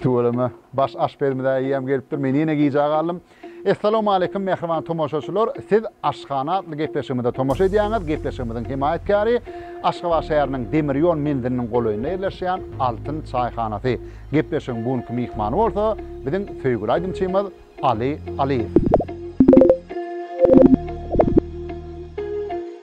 Tüweleme, baş aşpezimiz-ä eýýäm gelipdir, men ýene gijä galdym. Essalawmaleýkim, mähriban tomaşaçylar! Siz Aşhana atly gepleşigimize tomaşa edýäňiz. Gepleşigimiziň hemaýatkäri, Aşgabat şäheriniň demir ýol menziliniň golaýynda ýerleşýän Altyn çaýhanasy. Gepleşigiň bu günki myhmany bolsa, biziň söýgüli aýdymçymyz Aly Alyýew.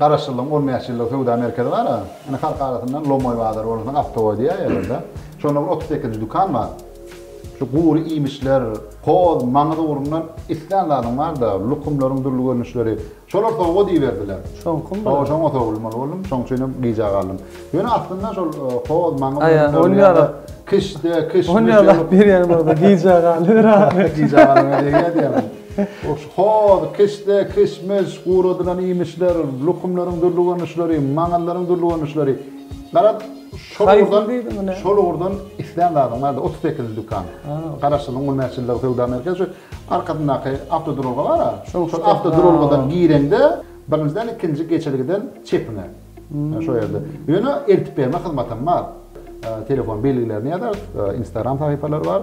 Garaşsyzlygyň on bäş ýyllyk söwda merkezi bar-a. Indi halk arasyndan Lomoý bazary bolmasa Optowoý diýýärler-de. Şonda bir otuz sekizinji dükan bar. Şu gury iýmişler, hoz, maňyz ugrundan islän zadyň bar-da, lukumlaryň dürli görnüşleri. Şolar sowgat iberdiler. Şoňkym bu? Hawa, şoňa sowulmaly boldum. Şoň üçin hem gijä galdym. Ýöne aslynda şol hoz, maňyz ürünlerini ýa-da kişde, kişmiş. Ony ýalap berýän bolsa gijä galyber-ä. Gijä galyber diýýär diýýärmiň? Hoş, hoz, kişde, kişmiş, guradylan iýmişler, lukumlaryň dürli görnüşleri, maňallaryň dürli görnüşleri. Garaz, şol ugurdan, şol ugurdan islän zadyň bar-da, otuz sekizinji dükan. Garaşsyzlygyň on bäş ýyllygy söwda merkezi, şu arkasyndaky awtoduralga bar-a, şol awtoduralgadan gireňde, birinjiden ikinji geçelgeden çepiňe. Şo ýerde. Ýöne eltip berme hyzmatam bar. Telefon belgilerini ýazarys, Instagram sahypalary bar.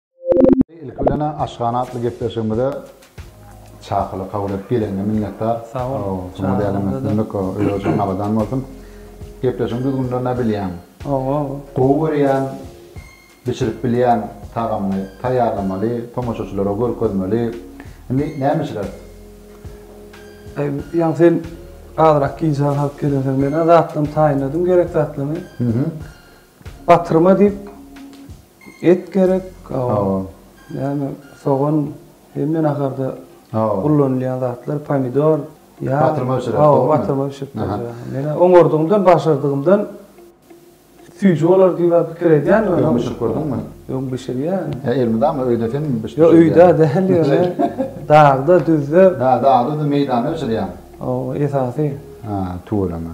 Ilki bilen-ä Aşgana atly gepleşigimize çakylyk kabul edip geleniňe minnetdar. Sag bol. Şuňa dälem üstünlik. Özi-özüňe abadan bolsun. Gepleşigiň düzgünlerini-ä bilýäň. Hawa. Gowy görýän, bişirip bilýän tagamyňy taýýarlamaly, tomaşaçylara görkezmeli. Indi näme bişireris? Aý, ýaňy sen azrak gijaga salyp gelensoň, men-ä zatlaryny taýynladym, gerek zatlaryny. Batyrma diýip et gerek, ýa-da sogan hemme naharda ullanylýan zatlar, pomidor. Batyrma bişirip. Hawa, batyrma bişirip berýär. Men oňardygymdan, başardygymdan süýji bolar diýip pikir edýän. Öňem bişirip gördüňmi? Öň bişirýän. Elmydama öýde sen bişirýän? Ýok, öýde däl ýöne dagda, düzde. Dagda, düzde, meýdanda bişirýäň. Hawa, esasy. Tüweleme.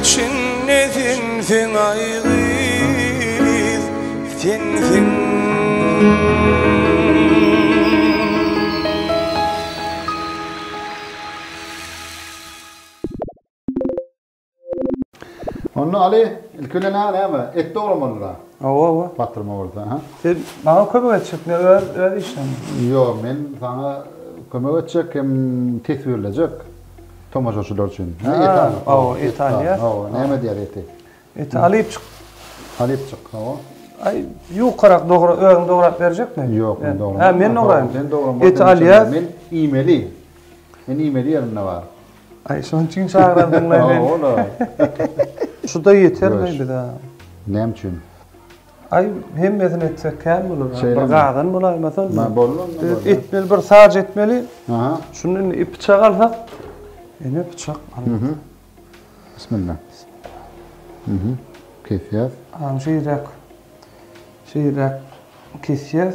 Içinde sensiň ay gyz sensiň Onda Ali ilki bilen a näme et dogramalydyra. Hawa hawa. Patrma bolsa ha. Sen maňa kömek etjek ne öz öz işleň. Ýok men saňa kömek etjek hem teswirlejek. tomaşaçylar üçin. Hä, Italiýa. Hawa, Italiýa. Hawa, näme diýer eti? Eti alypçyk. Alypçyk, hawa. Aý, ýokarak dogra, özüň dograp berjekmi? Ýok, men dogram. Hä, men dograýyn. Sen dogram. Eti alyas. Men iýmeli. Men iýmeli ýerimde bar. Aý, şonuň üçin çagyrdyň-laý meni. Hawa, ola. Şu-da ýetermi bize? Näme üçin? Aý hemmesini etsek kän bolar. Bir gazan bolaýmasan. Mä boldy onda. Edip etmeli bir saç etmeli. Aha. Şunda indi ip çak alsak. Ene bıçak. Mhm. Bismillah. Mhm. Kesýär. Aň şeýräk. Şeýräk kesýär.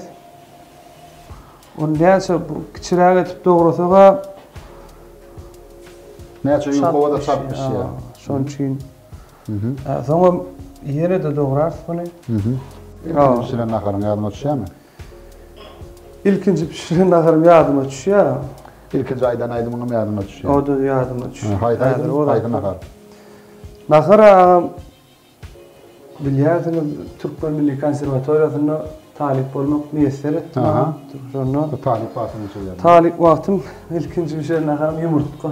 Onu näçe bu kiçiräk etip dograsak-a. Näçe ýukawa da çap bişýär. Şonuň üçin Soňam ýene-de dograrys muny. Ilkinji bişiren naharyň ýadyňa düşýärmi? Ilkinji bişiren naharyň ýadyma düşýär. Ilkinji aýdan aýdymyňam ýadyňa düşýär. O-da ýadyma düşýär. Haýsy aýdym, haýsy nahar? Nahar agam, bilýärsiňiz, Türkmen milli konserwatoriýasynda talyp bolmak miýesser etdi maňa. Şonda. Talyp wagtyň niçe ýadyňda? Talyp wagtym ilkinji bişiren naharym ýumurtga.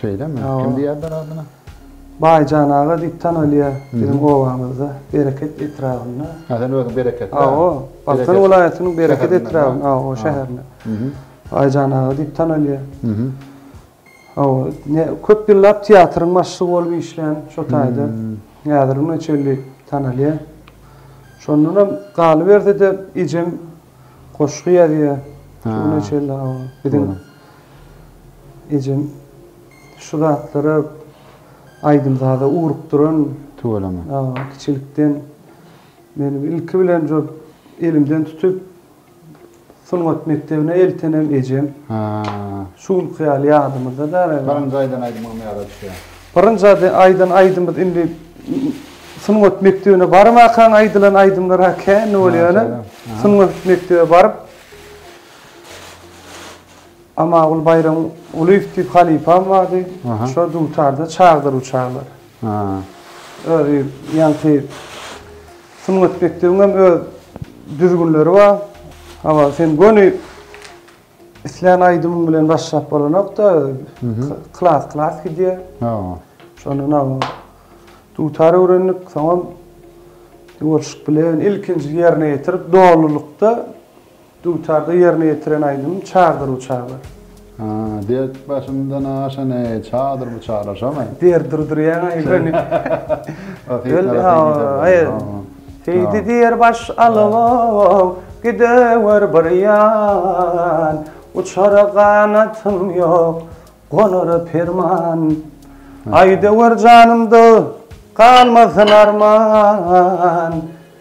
Şeýlemi? Hawa. Kim diýýärler adyna? Baýjan aga diýip tanalýar biziň obamyzda, Bereket etrabynda. Hä, sen özüň Bereketli? Hawa, Balkan welaýatynyň Bereket etrabynyň, hawa, şäherinde. Baýjan aga diýip tanalýar. Hawa, ne, köp ýyllap teatryň başlygy bolup işlän şo taýda. Häzir güne çenli tanalýar. Şondanam galyberse-de, ejem goşgy ýazýar şu güne çenli, hawa, biziň. Ejem şu zatlara aýdym-saza ugrukdyran. Tüweleme. Aa, kiçilikden meni ilki bilen şu elimden tutup sungat mekdebine eltenem ejem. Ha. Şu günki ýaly ýadymyzda däl. Birinji aýdan aýdymyňam ýada düşýär. Birinji aýdan aýdymymyz indi sungat mekdebine barmakaň aýdylan aýdymlar kän bolýar. Sungat mekdebe baryp. Amagül Baýram Gulyýew diýip halypam bardy. Şo dutarda çagdyr bu çaglar. Özi ýaňky Sungat mekdebiň hem öz düzgünleri bar. Hawa, sen göni islän aýdymyň bilen başlap bolanok-da, klas-klas gidýär. Hawa. Şondan hawa. Dutar öwrendik, soňam ýolşyk bilen ilkinji ýerine ýetirip, dolulykda Dutarda ýerine ýetiren aýdymym Çardyr bu çaglar. Dert başymdan aşan eý, Çardyr bu çaglar, şomy? Der durdurýaň aýdany. Seýdi diýer baş alawam, Gidewer bir ýan, Uçara ganatym ýok, Gonara perman. Aýdewer janymda, Galmasyn arman.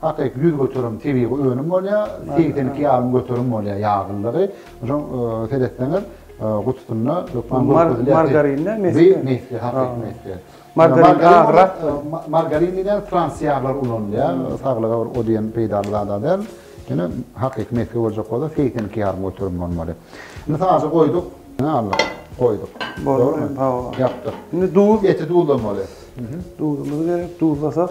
Hakyky ýüz göterim tebigy önüm bolýar, segsen iki ýarym göterim bolýar ýaglylygy. Şoň seretseňiz, gutusynda hökman görkezilýär. Margarinmi, mesge? Bu mesge, hakyky mesge. Margarin agrak. Margarin diýilýän frans ýaglary ulanylýar. Saglyga bir o diýen peýdaly zada däl. Ýöne hakyky mesge boljak bolsa, segsen iki ýarym göterim bolmaly. Indi saja goýduk. Ýa Allah, goýduk. Boldy, hawa. Ýapdyk. Indi duz. Eti duzlamaly. Duzumyz gerek, duzlasak.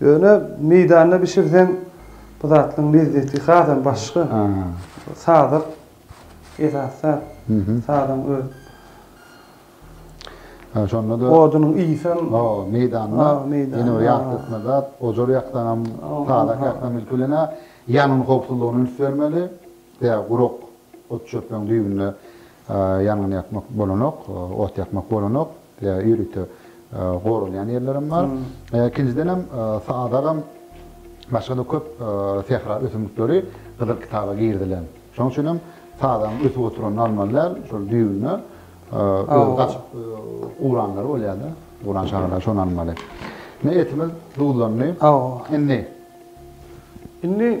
Ýöne meýdanda bişirseň bu zatlaryň lezzeti hasam başga. Sazak esasy zat. Sazagyň özi. Hä, şonda-da. Odunyň ysy hem. Hawa, meýdanda. Ýene bir ýatlatma zat, ojar ýaksaňam, sazak ýaksaňam ilki bilen-ä ýangyn howpsuzlygyny üns bermeli. Ýa gurak ot-çöpleriň düýbünde Ýangyn ýakmak bolanok, ot ýakmak bolanok. Ýörite goralýan ýerlerem bar. Ikinjidenem sadagam başga-da köp sähra ösümlikleri Gyzyl kitaba girizilen. Şonuň üçin hem sadagyň ösüp oturanyny almaly däl. Şol düýbüne özi gaçyp ugranlary bolýar-da. Ugran çagalar şony almaly. Ine etimiz duzlandy. Indi. Indi.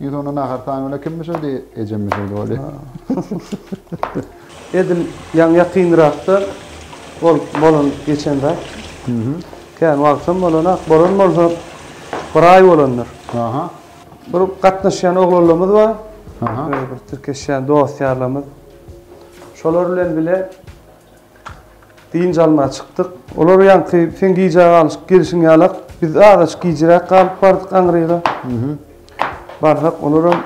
Ýüz onda nahar taýyn bile kim bişirdi? Ejem bişirdi bolýa. Edil ýaňy ýakynrakda bolup bolan geçen zat. Kän wagtam bolanak, bolan bolsa bir aý bolandyr. Aha. Bir gatnaşýan oglanlarymyz bar. Aha. Bir tirkeşýän dost ýarlarymyz. Şolar bilen bile Dynç almaga çykdyk. Olar ýaňky seň gijä galyşyp gelişiň ýalak, biz azajyk gijiräk galyp bardyk aňryga. Barsak, olaram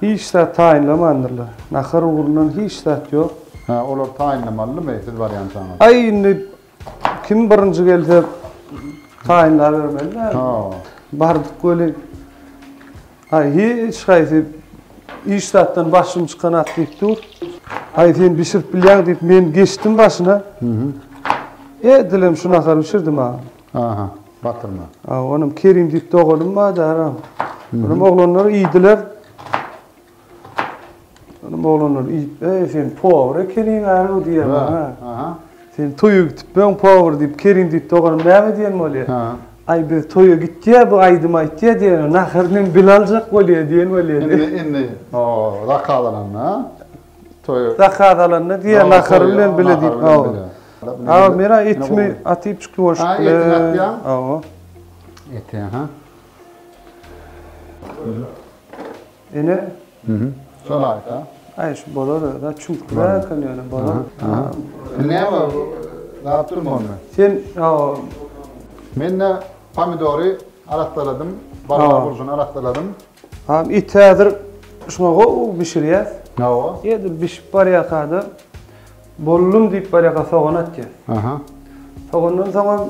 hiç zat taýynlamandyrlar. Nahar ugrundan hiç zat ýok. Hä, olar taýynlamalymy, siz barýançaňyz? Aý, indi Kim birinji gelse taýynlap bermeli däl. Ha. Bardyk weli. Ay hiç haýsy iş zatdan başym çykan at diýip dur. Ay sen bişirip bilýäň diýip men geçdim başyna. Mhm. E dilem şu nahar bişirdim ha. Aha, batyrma. A onam Kerim diýip doganym bar da. Onam oglanlar iýdiler. Onuň oglanlar iýip, Eý, sen powar ekeniň-ä-ow diýýär maňa. Aha. Sen toýa gitipmiň, powar diýip, Kerim diýip doganym näme diýen bolýar. Ha. Aý, biz toýa gitýä, bu aýdym aýtýa diýene, naharyny hem bile aljak bolýa diýen bolýa diýýär. Indi, indi, o-o, zakaz alanda, toýa. Zakaz alanda diýýär, nahary bilen bile diýip, ow. Aga, men-ä etimi atyp çykdy bolşup bilen. Ha, etini atýaň? Ow. Eti, aha. Ene. Mhm. Şol aýta. Aý şu bolar özä çuňkurak eken ýöne bolar. Näme zat durma onda. Sen Menne pomidory arassaladym, balygy burjuna arassaladym. Ha iti häzir şuňa gowy bişirýäs. Hawa. Edil bişip barýarka-da boldum diýip barýarka sogan atýas. Aha. Sogandan soňam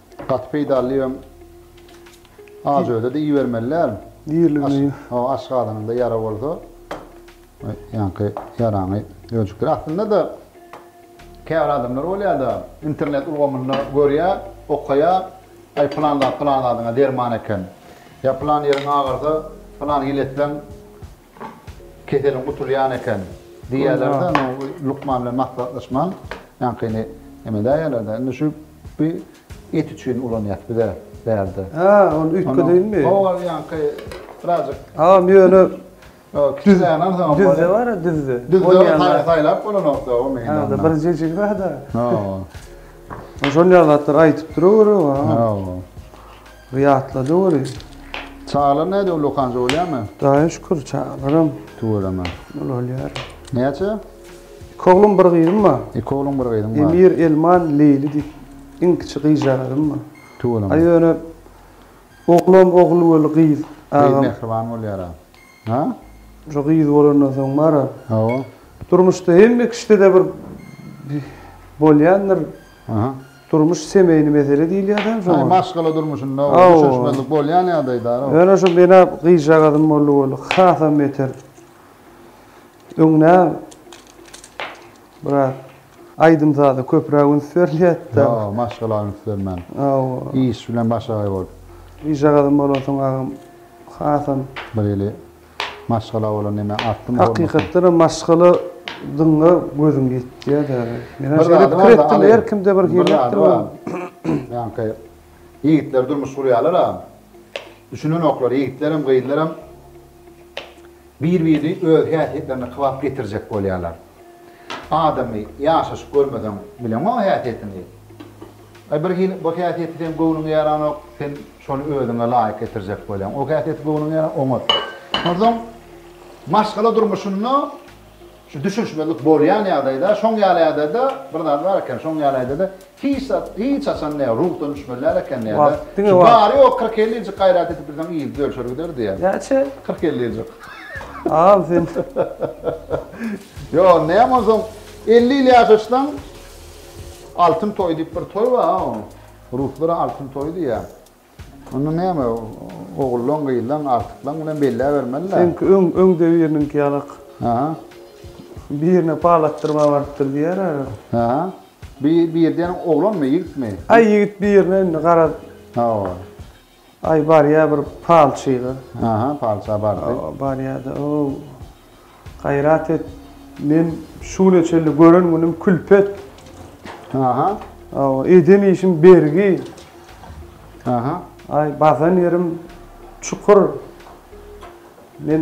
Gaty peýdally ýöň aç özede iýibermeli däl. Iýilimli. Hawa aç gazanyňda ýara bolsa ýaňky ýaraňy öjükdir. Aslynda-da käbir adamlar bolýar-da internet ulgamynda görýär, okaýar, aý pylan zat pylan zadyňa derman eken. Ýa pylan ýeriň agarsa pylan hil etseň Keseliň gutulýan eken diýýärler-de, indi bu lukman bilen maslahatlaşman, ýaňkyny emedäýerler-de, indi şu bi et üçin ulanýas biz-ä bärde. Hä, ol üýtge dynmy? Hawa, ol ýaňky birazjyk. Agam, ýöne düzde bar-a, düzde. Düzde saýlap bolanok-da, o meýdanda. Hä, onda bir jejigi bar-da. Hawa. Şonýa zatlar aýdyp durawer-ow, agam. Hawa. Ryýatla döwürin. Çagalar näde ullakanjy bolýamy. Daýy şükür çagalaram. Tüweleme. Ulalýar. Näçe? Iki oglum bir gyzym bar. Iki oglum bir gyzym bar. Emir Elman Leýli diýip iň kiçi gyzjagazym bar. Tüweleme. A ýöne oglam ogul weli gyz agam. Gyz mähriban bolýara. Ha? Şu gyz bolandan soň bar-a. Hawa. Durmuşda hemme kişide-de bir bolýandyr. Aha. Durmuş semeýny mesele diýilýär-dä şoňa. Aý, maşgala durmuşynda düşünişmezlik bolýan ýagdaýdar-a. Ýöne şu mena gyzjagazym boldy-boldy, hasam beter. Öňňä. Biraz aýdym-saza köpräk üns berliýätda. Ýa, maşgala üns bermän. Hawa. Iş bilen başagaý bol. Bijagazam bolansoň agam hasam. Bir eli maşgala bolan neme artdymy hormatyň. Hakykatdanam maşgala dyňňa gözüň ýetýär däl. Mena şeýle pikir etdim, her kimde bir hilekdir bu. Ýaňky ýigitler durmuş gurýarlar-a. Düşünenoklar ýigitlerem, gyzlaram. Bir-birini öz häsiýetlerine kybap getirjek bolýarlar. Adamy ýaşaşyp görmeseň, bileňok oň häsiýetini. Aý, birhili bir häsiýeti seň göwnüňe ýaranok, sen şony özüňe laýyk getirjek bolýaň. O häsiýeti göwnüňe ýaran, oňat. Onsoň maşgala durmuşynda. Şu düşünişmezlik bolýan ýagdaýda, şoň ýaly ýagdaýda bir zat bar eken, şoň ýaly ýagdaýda hiç zat, hiç haçan näme, ruhdan düşmeli däl eken diýýärler. Wagt, diňe wagt. Bary ýogy kyrk-elli ýyljyk gaýrat edip bilseň ýyldz ölçer gider diýýär. Näçe? Kyrk-elli ýyljyk. Al sen. Ýok, näme onsoň, elli ýyl ýaşaşsaň, Altyn toý diýip bir toý bar-a onuň. Ruslar Altyn toýy diýýär. Onda näme, ogullaň, gyzlaň, agtyklaň bilen belläbermeli-dä. Seňki öň, öňde biriniňki ýalak. Aha. Birine pal atdyrmaga barypdyr diýer ara. Aha. Bi, bir diýen oglanmy, ýigitmi? Aý, ýigit birine indi garaz. Hawa. Aý, barýar bir palçyga. Aha, palça bardy. Hawa, barýar-da, o. Gaýrat et, men şu güne çenli gören günüm külpet. Aha. Hawa, eden işim bergi. Aha. Aý, basan ýerim çukur. Men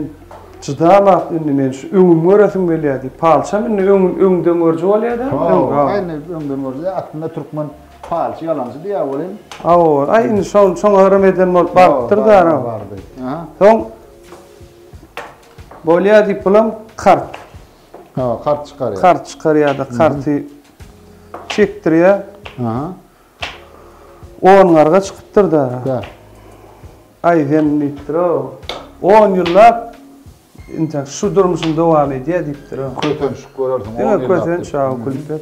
çydamap indi men şu öňümi göresim gelýär diýip, palçam indi öňüni öňden görji bolýa-da. Hawa, indi öňden görji. Aslynda türkmen palçy ýalançy diýýär welin. Hawa, aý indi şoň şoňa yrym eden bolup barypdyr-da. Aha. Soň Bolýa diýip bulam kart. Ha, kart çykarýar. Kart çykarýar-da, karty çekdirýär. Aha. On garga çykypdyr-da. Kä. Aý sen diýipdir-ow. On ýyllap intäk şu durmuşyň dowam edýär diýipdir-ow. Kösenç görersiň, on ýyllap. Diňe kösenç, aw, külpet.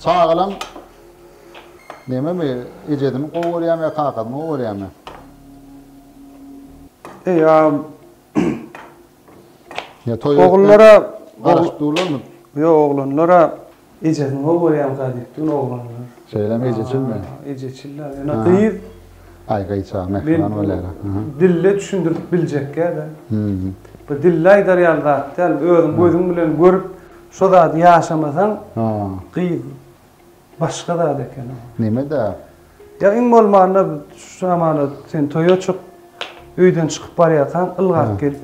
Çagalam nememi ejesini gowy görýärmi ýa kakasyny gowy görýärmi? Eýam Ýa toý Ogullara garaşyp durlarmy? Ýok, oglanlara ejesini gowy görýärmikä diýip dur oglanlar. Şeýlemi ejeçilmi? Ejeçil-ä. Ýöne gyz Aý gyzjagaz mähriban bolýar-a. Dille düşündirip biljekkä-de. Bir dille aýdar ýaly zat däl. Özüň gözüň bilen görüp, Şo zady ýaşamasaň gyz başga zat ekeni. Nemede? Ýa iň bolmanda şu zamana sen toýa çyk, öýden çykyp barýarkaň ylgap gel.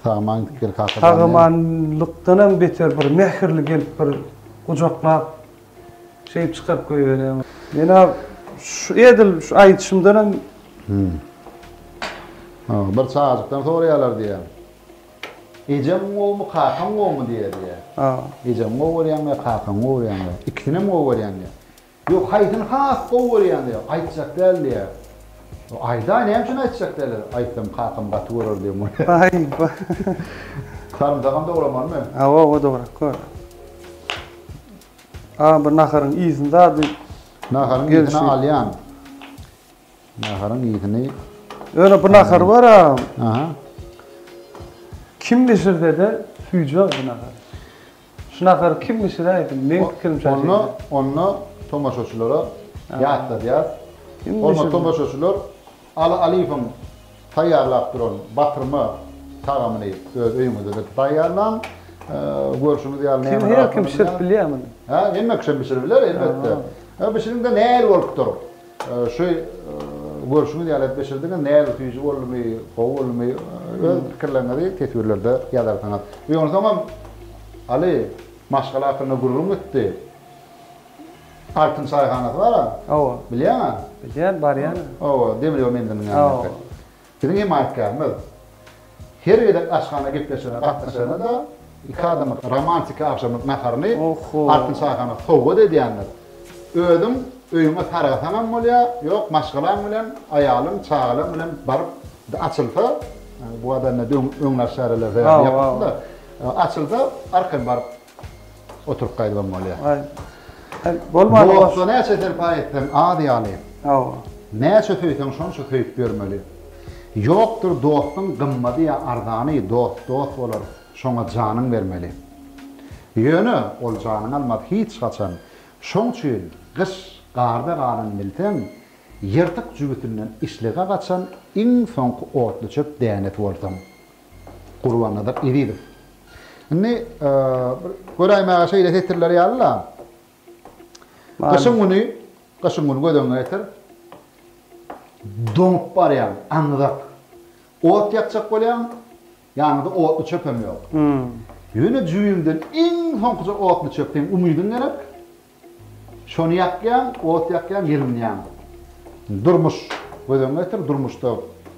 Sagaman git gel kakajan. Sagamanlykdanam beter bir mähirli gelip bir gujaklap şeýdip çykaryp goýberýär. Men-ä şu edil şu aýdyşymdanam. Hä. Bir çagajykdan soraýarlar diýýä. Ejeň gowumy, kakaň gowumy diýýär diýýär. Ejeňi gowy görýäňmi ýa kakaňy gowy görýäňmi diýýär. Ikisinem gowy görýän diýýär. Ýok, haýsyny has gowy görýäň diýýär. Aýtjak däl diýýär. Aýdaý, näme üçin aýtjak däl? Aýtsam kakam gaty görer diýen bolýar. Aýba. Sarymsagam dogramalymy? Hawa, hawa dograp goý. Agam bir naharyň ysyn zady. Naharyň ysyn alýan. Naharyň ýygyny. Ýöne bu nahar bar-a. Aha. Kim bişirse-de süýjüler bu nahary. Şu nahary kim bişiräýsin? Meň pikirimçe şeýle. Onda, onda tomaşaçylara ýatladýas. Hormatly tomaşaçylar, Aly Alyýewiň taýýarlap duran batyrma tagamyny öz öýüňizde-de taýýarlaň. Görşüňiz ýaly näme Kim her kim bişirip bilýär muny. Hä, hemme kişem bişirip biler, elbetde. Bişiriň-de nähili bolupdyr? Şu görşüňiz ýaly edip geçirdiňiz. Nädip süýji boldumy, gowy boldumy, öz pikirleriňizi teswirlerde ýazarsyňyz. Eý onsoňam Aly, maşgala hakynda gürrüň gitdi. Altyn çaýhanasy bar-a? Hawa. Bilýäň-ä? Bilýän, barýan. Hawa, demir ýol menziliniň ýanyndaky. Hawa. Biziň hemaýatkärimiz her gezek aşhana gepleşigine gatnaşanda-da iki adamyň romantiki agşamlyk naharyny Altyn şaýhana sowgat edýändir. Özüň öýüňe sargasaňam bolýar, ýok maşgalaň bilen, aýalyň, çagalaň bilen baryp açylsa, bu adam öňler çäreler sebäpli ýapypdy-da, açylsa arkaýyn baryp Oturyp gaýdybam bolýar. Aý. Aý, bolmady. Bolsa näçe serpaý etseň az ýaly. Hawa. Näçe söýseň şonça söýüp ýörmeli. Ýokdur dostuň gymmady ýa arzany, dost dost bolar, şoňa janyň bermeli. Ýöne ol janyň almaz hiç haçan. Şoň üçin gyş garda galan bilseň, ýyrtyk jübüsinden işlige gaçan iň soňky otluçöp dänesi bolsaň. Gurbannazar Ezizow. Indi bir göräýmäge şeýle setirler ýaly-la. Gyşyň güni, gyşyň güni göz öňüňe getir. Doňup barýaň, aňzak. Ot ýakjak bolýaň, ýanyňda otly çöpem ýok. Ýöne jübüňden iň soňkuja otly çöp, seň umydyň gerek. Şony ýakýaň, ot ýakýaň, ýylynýaň. Durmuş göz öňüňe getir, durmuşda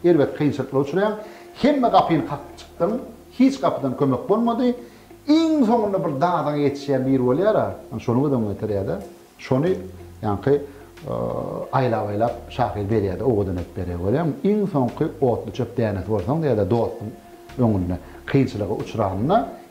erbet kynçylyklara uçraýaň. Hemme gapyny kakyp çykdyň, hiç gapydan kömek bolmady. Iň soňunda bir dadyňa ýetişýän biri bolýar-a, ýa şony göz öňüňe getirýär-de, şony ýaňky aýlap-aýlap şahyr berýär-de, owadan edip berýär, görýäňmi? Iň soňky otluçöp dänesi bolsaň diýýär-de, dostuň öňünde kynçylyga uçranyna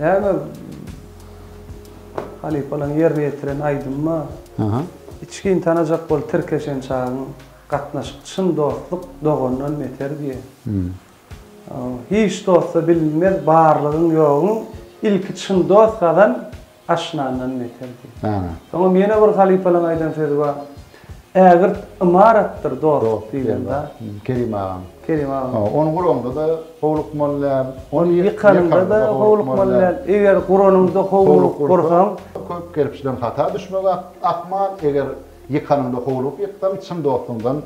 Näme halypalaň ýerine ýetiren aýdymma içgin tanajak bol tirkeşen çagyň gatnaşyk çyn dostluk dogandan beter diýe. Hiç dostda bilinmez barlygyň ýogyň ilki çyn dost gazan aşnandan beter diýe. Soňam ýene bir halypalaň aýdan sözi bar. Ägirt ymaratdyr dost diýlen zat. Kerim agaň. Kerim agaň. Ony guranyňda da howlukmaly däl. Ony ýykanyňda da howlukmaly däl. Eger guranyňda howlugyp gursaň. Köp kerpiçden hata düşmek ahmal, eger ýykanyňda howlugyp ýyksaň, çyn dostuňdan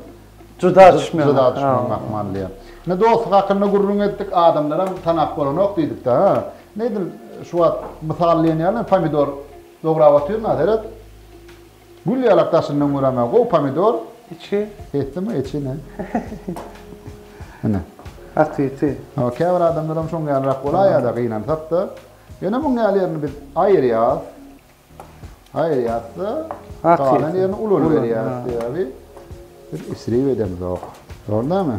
juda düşmegiň ahmal diýýär. Indi dostluk hakynda gürrüň etdik, adamlaram tanap bolanok diýdik-de. Indi edil şu wagt mysallaýan ýaly pomidor dograp otyryn-a, seret. Gül ýalak daşyndan göremä gowy pomidor. Içi. Hetli mi içi ne? Ine. Atyty. Hawa käbir adamlaram şoň ýalyrak bolaýada gynansakda. Ýöne muň ýaly ýerini biz aýyrýas. Aýyrýasda galan ýerini uly berýäs sebäbi biz isrip edemzok. Dogry dälmi?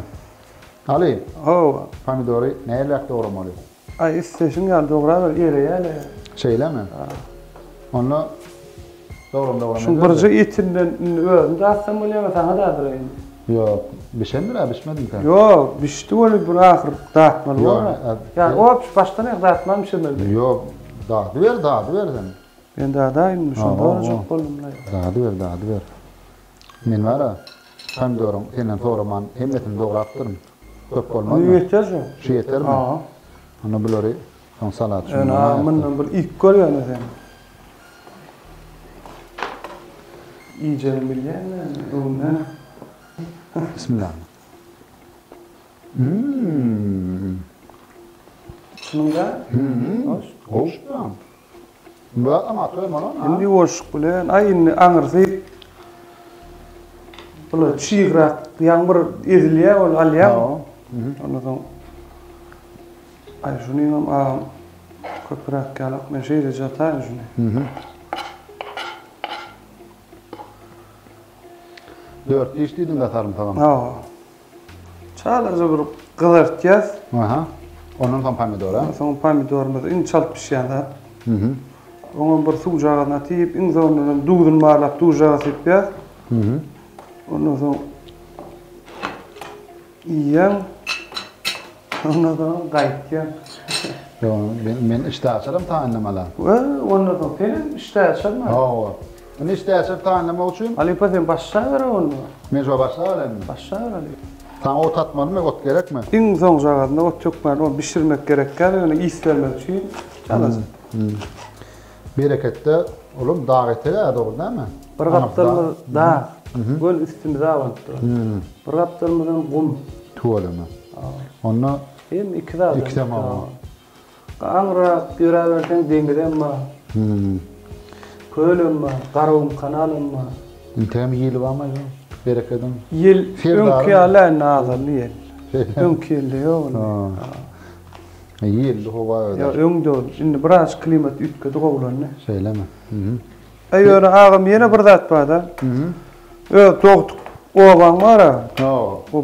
Aly. Hawa. Pomidory näleräk dogramaly? Aý isleşiň ýaly dograber ýere ýäle. Şeýlemi? Onda dogran dogran Şuň birje etinden indi özüm datsam bolýar we saňa dadyra indi. Ýok, bişendir-ä, bişmedimkä? Ýok, bişdi weli bir ahyr datmaly bolar. Ýa opşy başdan aýak datman bişirmeli. Ýok, dadyber, dadyber sen. Men dadaýyn indi, şony sorajak boldum-la ýa. Dadyber, dadyber. Men bar-a, pomidoryň senden soraman hemmesini dograpdyryn. Köp bolmazmy? Ýeter şu. Şu ýetermi? Hawa. Onda bulary soň salat üçin Ene, a, mundan bir iýip gör ýöne sen. Iýjegini bilýäň-le indi öňüne. Bismillah. Mmm. Şunuň-da? Mmm. Goş. Goş. Bularyň aty hem onuň, ha? Indi ýuwaşlyk bilen, aý, indi aňyrsy bular çygrak, ýaňy bir ezilýär ol, alýaň. Ondan soň, aý, şunyň hem agam köpräk ýalak, men şeýle jataýyn şuny. Dört diş diýdiň-dä, sarymsagam? Hawa. Çalaja bir gyzartýas. Aha. Ondan soň pomidor, a? Soň pomidorymyz iň çalt bişýän zat. Mhm. Oňam bir suwjagazyny atyp, iň soňundanam duzuny barlap duzjagaza sypýas. Mhm. Ondan soň iýýän. Ondan soň gaýtýan. Ýok, men işdäaçaram taýynlamalam. Ondan soň senem işdäaçarma. Hawa. Indi işdäçe taýynlamak üçin. Halypa sen baş şagyra onda. Men şo baş şagyr indi. Baş şagyr halypa. Saňa ot atmalymy, ot gerekmi? Iň soňjagazynda ot ýokmady, ony bişirmek gerek däl, ýöne ys bermek üçin çalasy. Bereketde ulum dag etegä dogry dämi? Bir gapdalymyz dag, göl üstümize abanyp duran. Bir gapdalymyzam gum. Tüweleme. Onda. Hem iki zat. Ikisem aban. Gaňrak ýöräberseň deňizem bar. Kölem bar, Garagum kanalam bar. Üntäm ýyly barmy ýa berekediň? Ýyl öňki ýaly indi azaldy ýel. Öňki ýylda ýok indi. Ha. Ýelli howa öder. Ýok, öňde ol. Indi biraz klimat üýtgedi, gowulandy. Şeýlemi? Äý ýöne agam ýene bir zat bar-da. Öz dogduk obaň bar-a. Hawa.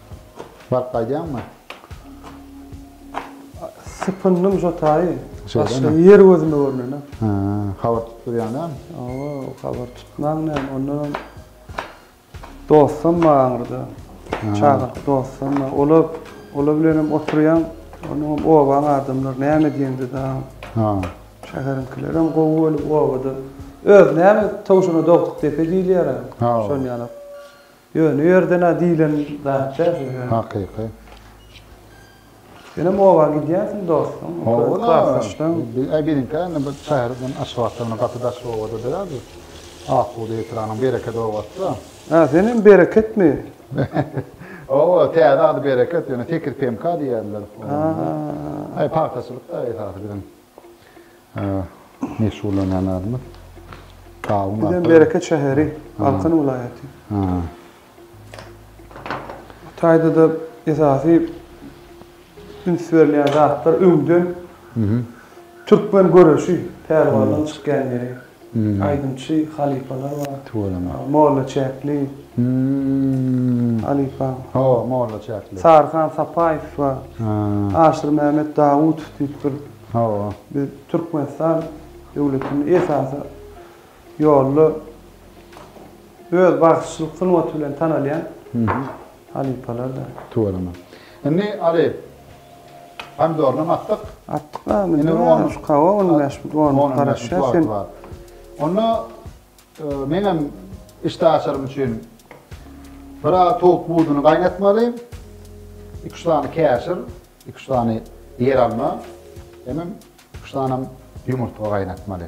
Baryp gaýdýaňmy? Sypyndym şo taýy. Başga ýer gözüme görnene. Ha, habar tutup durýaň dämi? Hawa, habar tutmaň näme, onda dostum bar aňyrda. Çagyryp dostum bar. Olar, olar bilen hem oturýaň. Onuň obaň adamlary näme diýende daýaň. Ha. Şäheriňkiler hem gowy bolup obada. Öz näme towşana dogduk depe diýilýär-ä. Şonýalap. Ýöne u ýerden-ä diýlen zat däl siz ýöne. Hakyky. Senem oba gidýänsiň dostum. Oba-la. Biziňkä indi bu şäherden Aşgabatdan indi gaty daş obada däl biz. Akbuda etranyň Bereket obasy-da. Hä, senem Bereketmi? Oba, täze ady Bereket, ýöne Tekir PMK diýýärler. Hä. Aý, pagtaçylyk-da esasy biziň. Meşgullanýan adymyz Gawun Bizem Bereket şäheri, Balkan welaýaty. Bu taýda-da esasy üns berilýän zatlar öňden türkmen göreşi, pälwanlaryň çykýan ýeri. Aýdymçy halypalar bar. Tüweleme. Molla Çäkli. Halypa. Ho, Molla Çäkli. Saryhan Sapaýew bar. Aşyr Mämmet Dawutow diýip bir. Ho. Biz Türkmenistan döwletinde esasy ýolda öz bagşyçylyk sungaty bilen tanalýan. Halypalar da. Tüweleme. Indi Aly, pomidoryny atdyk. Atdyk a, indi bir on. Hawa, on bäş, on garaşýas sen. Onda men hem işdäaşarym üçin bir az towuk buduny gaýnatmaly, iki-üç sany käşir, iki-üç sany ýeralma, hemem iki-üç sanem ýumurtga gaýnatmaly.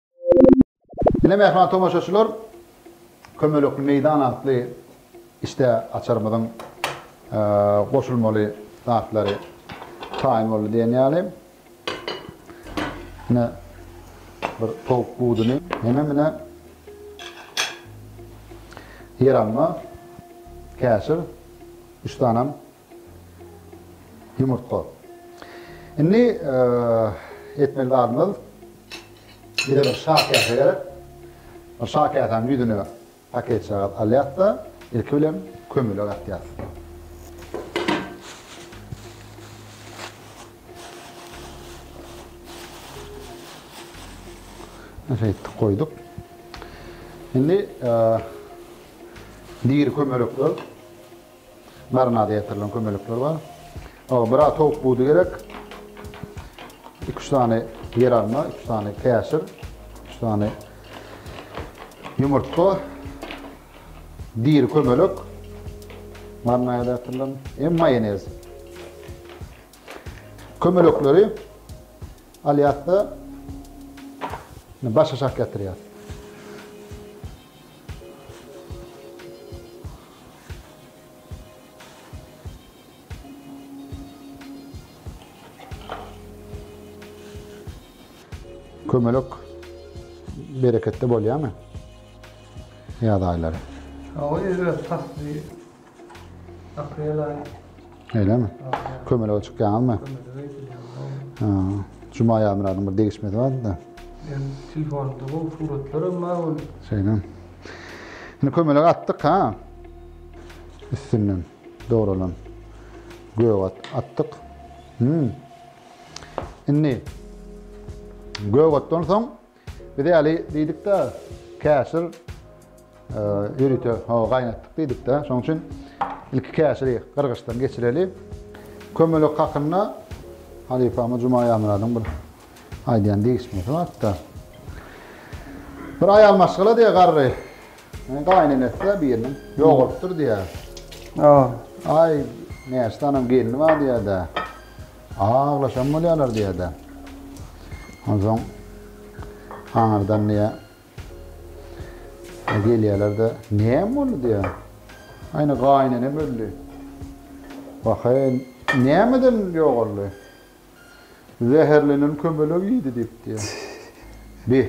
Ine mähriban tomaşaçylar, Kömelekli meýdan atly işdä açarymyzyň goşulmaly zatlary taýyn boldy diýen ýaly. Ine bir towuk buduny, hemem ine ýeralma, käşir, üç sanem Ýumurtga. Indi etmeli zadymyz bize bir şa käse gerek. Şa käsäniň ýüzüne paketjagaz alýas-da, ilki bilen kömelek atýas. Şeýtdip goýduk. Indi diri kömelekler Marinada ýetirilen kömelekler bar. Oňa biraz towuk budy gerek. 2-3 sany ýeralma, 3 sany käşir, 3 sany ýumurtga, diri kömelek, marinada ýetirilen hem maýonez. Kömelekleri alýas-da başaşak ýatyryas. Kömelek bereketli bolýarmy ýaz aýlary? Hawa, ýöne pasly Aprel aýy. Öýlemi? Kömelege çykýaňyzmy? Kömelege gidýän. Juma Ýazmyradyň bir degişmesi bardy-da. Ýöne telefonda bu suratlar hem bar ol. Şeýle. Indi kömelege atdyk ha. Üstünden dogrulan gök at atdyk. Hmm. Indi gök atdan soň Biz ýaly diýdik-de, käşir ýörite gaýnatdyk diýdik-de. Şonuň üçin ilki käşiri gyrgyçdan geçireli. Kömelek hakynda halypamyz Juma Aýamyradyň bir aýdýan degişmesi bar-da. Bir aýal maşgala diýýär garry. Gaýynenesi-de biriniň ýogalypdyr diýýär. Aý, näçe sanam gelni bar diýýär-de. Aglaşan bolýarlar diýýär-dä. Onsoň aňyrdan diýýär, gelýärler-de, Näme boldy? diýýär. Aýna gaýynenem öldi. Wah-eý, nämeden ýogaldy? Zäherlenen kömelek iýdi diýip diýýär. Bi,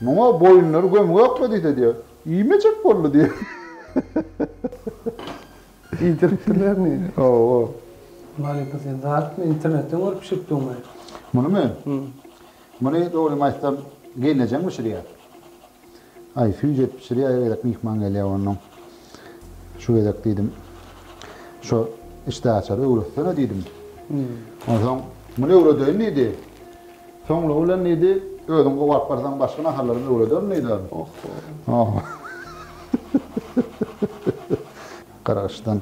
muňa boýunlary gömgekmi diýse diýýär, iýmejek boldy diýýär. Diýdiripdirlermi? Hawa. Mary bu sen zatmy, internetden görüp bişiripdiňmi? Munymy? Hü. Muny dogrymy aýtsam, gelnejeň bişirýär. Aý, süýji et bişirýär, her gezek myhman gelýär onnoň. Şu gezek diýdim, şo işdäaçary öwretsene diýdim. Onsoň, Muny öwredeýin diýdi. Soňlugy bilen diýdi, Özüň gowy alyp barsaň, başga naharlaram öwrederin diýdi. Oh-ho. Garaşdan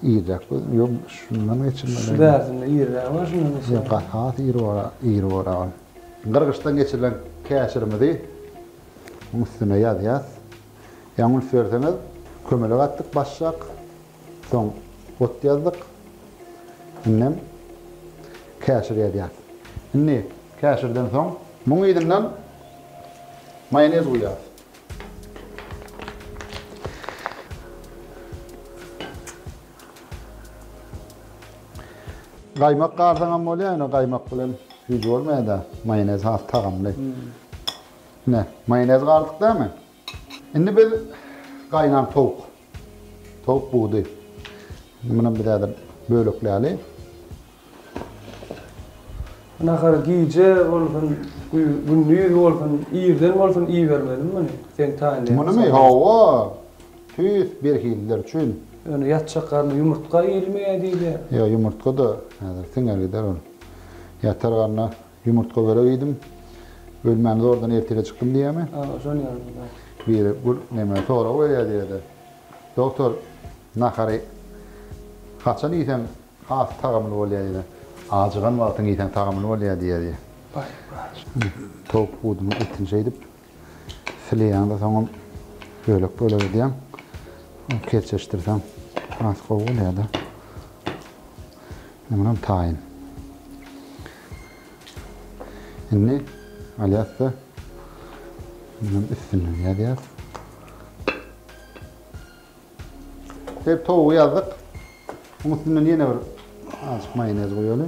irräk gözüm. Ýok, şundan geçirmeli. Şu bärinde irrägi bar, şundan geçirmeli. Ýok, has iri bar, iri bar agam. Gyrgyçdan geçirilen käşirimizi munuň üstüne ýazýas. Ýaňy üns berseňiz, kömelek atdyk başjak. Soň ot ýazdyk. Indem käşir ýazýas. Indi käşirden soň muň yzyndan maýonez guýýas. Gaýmak galsaňam bolýar, ýöne gaýmak bilen hiç bolmaýada. Maýonez has tagamly. Ine, maýonez galdyk dämi? Indi biz gaýnan towuk, towuk budy. Indi muny biz häzir bölekläli. Nahary gije bolsun, gündiz bolsun, irden bolsun iýermeli muny. Seň taýynlygyň. Munymy? Hawa. Tüýs birhililer üçin. Ýöne ýatjak garna ýumurtga iýilmeýär diýilýär. Ýa ýumurtga-da häzir siňer gider ol. Ýatar garna Ýumurtga börek iýdim. Bölmäni zordan ertire çykdym diýýärmi? Hawa, şony ýazyň, bar. Biri bir neme sorag berýär diýýär-de. Doktor, nahary haçan iýseň has tagamly bolýar diýdi. Ajygan wagtyň iýseň tagamly bolýar diýýär diýýär. Baý, baý. Towuk budunyň etini şeýdip. Sileýäňde soňam bölek bölek edýäň. Kerçeşdirseň has gowy bolýar-da. Indi munam taýyn. Indi alýas-da üstünden ýazýas. Dep towugy ýazdyk. Muň üstünden ýene bir azjyk maýonez goýaly.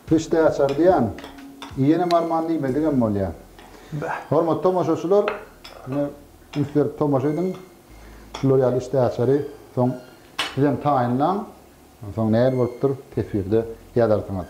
Pişdi açar diýen. Iýenem arman diýmedigem bolýa. Hormatly tomaşaçylar, ine üns berip tomaşa ediň. Şular ýaly işdi açary soň sizem taýynlaň. Onsoň nähili bolupdyr teswirde ýazarsyňyz.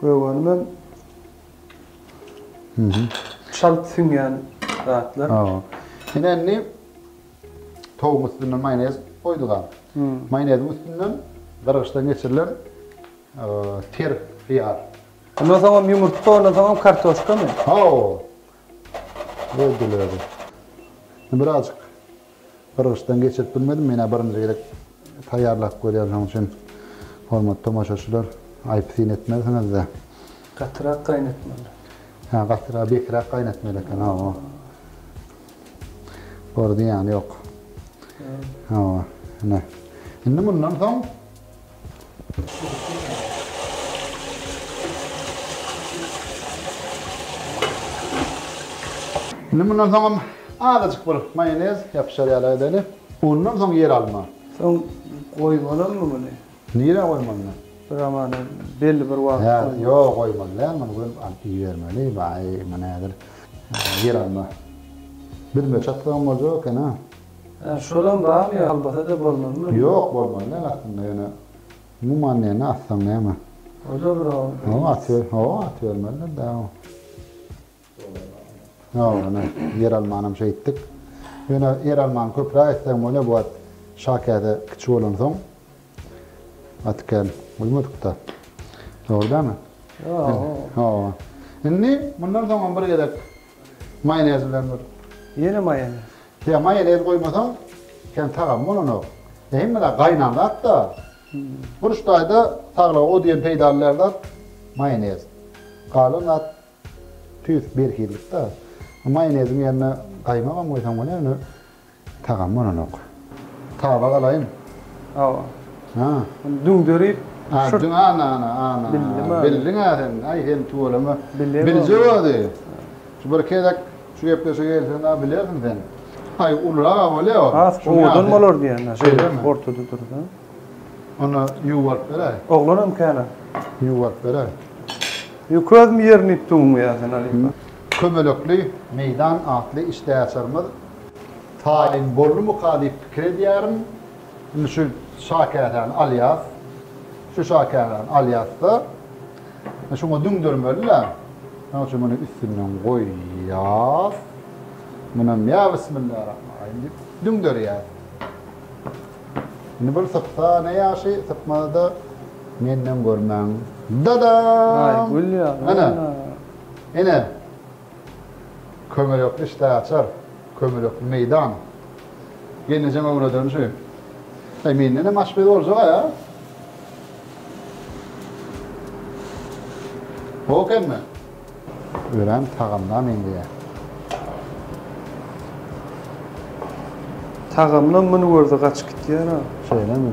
Gögermem çalt siňýän zatlar. Hawa. Ine indi towugyň üstüne maýonez goýduk-a. Maýoneziň üstüne gyrygyçdan geçirilen ter hyýar. Ondan soňam ýumurtga, ondan soňam kartoşkamy? Hawa. Öldüler. Birazajyk Gyrgyçdan geçirip bilmedim, menä birinji gezek taýýarlap görýän şoň üçin hormatly tomaşaçylar aýpy-syn etmersiňizde. Gatyrak gaýnatmaly. Hä gatyrak bekirak gaýnatmaly eken hawa. Bor zyýany ýok. Hawa. Ine. Indi mundan soň Indi mundan soňam azajyk bir maýonez ýapyşar ýaly edeli. Ondan soň ýeralma. Soň goýmalymy muny? Nirä goýmalymy? Bir amana belli bir wagt goýmaly. Ýok, goýmaly däl. Muny göm alyp iýermeli. Baý, bu näder? Ýeralma. Büzmeçaklygyň boljak eken-a. Hä, şolam barmy ýa albasada bolmalymy? Ýok, bolmaly däl aslynda ýöne umuman näme atsaň näme? O-da bir oba beýleki. Ýok, atyber, hawa atybermelidir dä o. Ýok, ine ýeralmanam şeýtdik. Ýöne ýeralmany köpräk etsegem bolýar bu at şa käte kiçi bolansoň aty kän guýmadyk-da. Dogry dälmi? Ýok. Hawa. Indi mundan soňam bir gezek Maýonez bilen bir. Ýene maýonez. Ýa maýonez goýmasaň hem tagamy bolanok. Hemme zat gaýnan zat-da. Burç daýda saglyga o diýen peýdaly däl zat maýonez. Galan zat tüýs berhizlik-de. Maýoneziň ýerine gaýmagam goýsaň bolar ýöne Tagam bolanok. Taba galaýyn. Hawa. Ha. Düňderip. A, düň ana ana ana. Bildim a. Bildiň-ä sen. Aý sen tüweleme. Bilemok. Biljek özi. Şu bir gezek şu gepleşige gelseň-ä bilersiň sen. Aý ulyrak-a bolýa ol. Has owadan bolar diýýän-ä. Şeýlemi? Ortada dur-da. Onda ýuwaryp beräý. Oglanam kän-ä. Ýuwaryp beräý. Ýok özüm ýerini iýip döwüm ýa sen Alypa. Kömelekli meýdan atly işdäaçarymyz Taýyn boldumyka diýip pikir edýärin. Indi şu şakäsäni alýas. Şu şakäsäni alýas-da, şuňa düňdermeli-dä. Şonuň üçin muny üstünden goýýas. Munam ýa bismillarahmanrahym diýip düňderýäs. Indi bir sypsa ne ýagşy, sypmasa-da menden görmäň. Dadam! Aý, gül ýaly. Ana. Ine, kömelekli işdäaçar, kömelekli meýdan. Gelnejeň öwrederin şu. Aý, menden hem aşpez boljag-a. Gowy ekenmi? Örän tagamla meňzeýä. Tagamla muny görse gaçyp gitýär-a. Şeýlemi?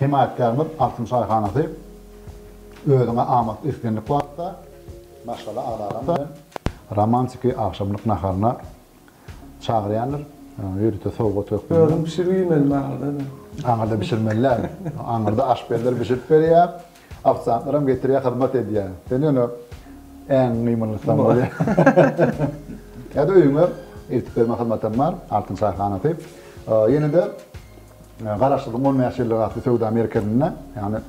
Hemaýatkärimiz Altyn çaýhanasy özüňe amat islendik wagtda maşgala agzalaryň bilen romantiki agşamlyk naharyna çagyrýandyr, ýörite sowgat hökmünde. Özüň bişirip iýmeli maňa-da. Aňyrda bişirmeli däl. Aňyrda aşpezler bişirip berýär. Ofisiantlaram getirýär hyzmat edýär. Sen ýöne äňiň gymyllysan bolýa. Ýa-da öýüňe eltip berme hyzmatam bar, Altyn çaýhanasy. Ýene-de garaşsyzlygyň on bäş ýyllygy atly söwda merkezinde, ýagny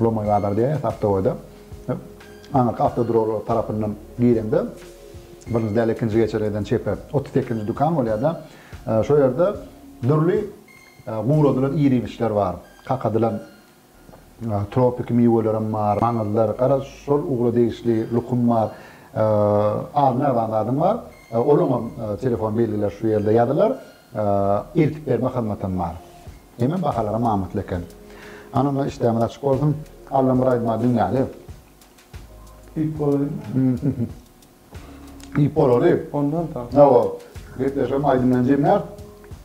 Lomoý bazar diýýäs awtoboýda. Aňyrky awtoduralga tarapyndan gireňde birinji däl ikinji geçelgeden çepe otuz sekizinji dükan bolýar-da. Şo ýerde dürli guradylan ir-iýmişler bar. Kakadylan tropiki miwelerim bar, maňyzlar, garaz, şol ugla degişli lukum bar, az mähban zadym bar, olaňam telefon belgileri şu ýerde ýazylar, eltip berme hyzmatym bar. Hemem bahalaram amatly eken. Hany onda işdämiz açyk bolsun. Allam bir aýdyma dünýäli. Diýip bolaýmy? Iýip bolary. Ondan soň. Hawa. Gepleşigiň aýdymyny jemläp.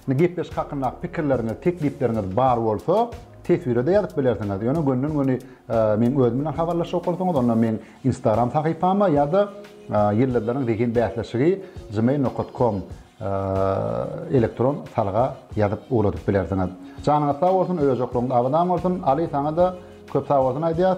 Indi gepleşik hakyndaky pikirleriňiz, teklipleriňiz bar bolsa, teswire-de ýazyp bilersiňiz. Ýöne gönden-göni meniň özüm bilen habarlaşjak bolsaňyz, onda meniň Instagram sahypama ýa-da Ýyldyzlaryň zehin bäsleşigi gmail nokat kom elektron salga ýazyp ugradyp bilersiňiz. Janyňyz sag bolsun, öýjoklugyňyz abadan bolsun. Aly, saňa-da köp sag bolsun aýdýas.